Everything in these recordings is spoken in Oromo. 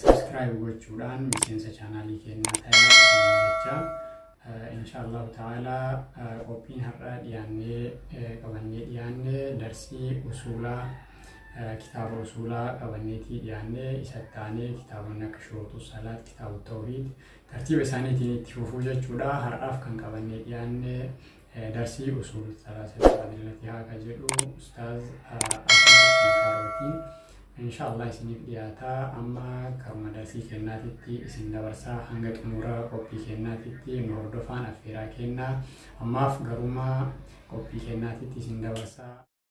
Subscribe gochuudhaan miseensa chaanaalii keenyaa ta'aa isiniin jecha inshaallahu ta'ala qophiin har'a dhiyaannee qabannee dhiyaanne darsii usuulaa kitaaba usuulaa qabanneetii dhiyaannee isa taanee kitaabonni akka shootu salaat kitaaba tawhiid tartiiba isaaniitiin itti fufuu jechuudha har'aaf kan qabannee dhiyaanne Darsii usuul salaasati fadilati haa ka jedhu ustaaz Abdulhakiim Kaarooti insha Allah isiniif dhiyaata amma karuma darsii kennaatitti isin dabarsaa hanga xumura qophii kennaatitti nu hordofaan affeeraa kennaa ammaaf garuma qophii kennaatitti isin dabarsaa.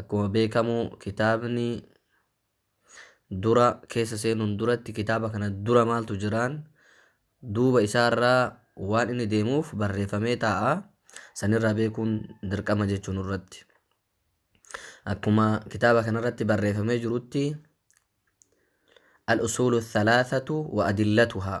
Akkuma beekamu kitaabni dura keessa seenuun duratti kitaaba kana dura maaltu jiraan duuba isaarraa waan inni deemuuf barreeffamee taa'a. Sanirraa beekuun dirqama jechuun irratti. Akkuma kitaaba kanarratti barreeffamee jirutti al-usuulu thalaathatu wa adillatuhaa.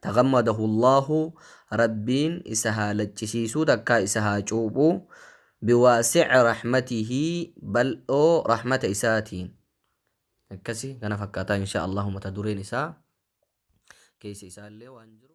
Taghammadahu Allaahu Rabbiin isa haa laccisiisuu takkaa isa haa cuuphu biwaasi'i rahmatihi bal'oo rahmata isaatiin akkasi kana fakkaataa inshaa Allaahu mata dureen isaa keessa isaallee waan jiru.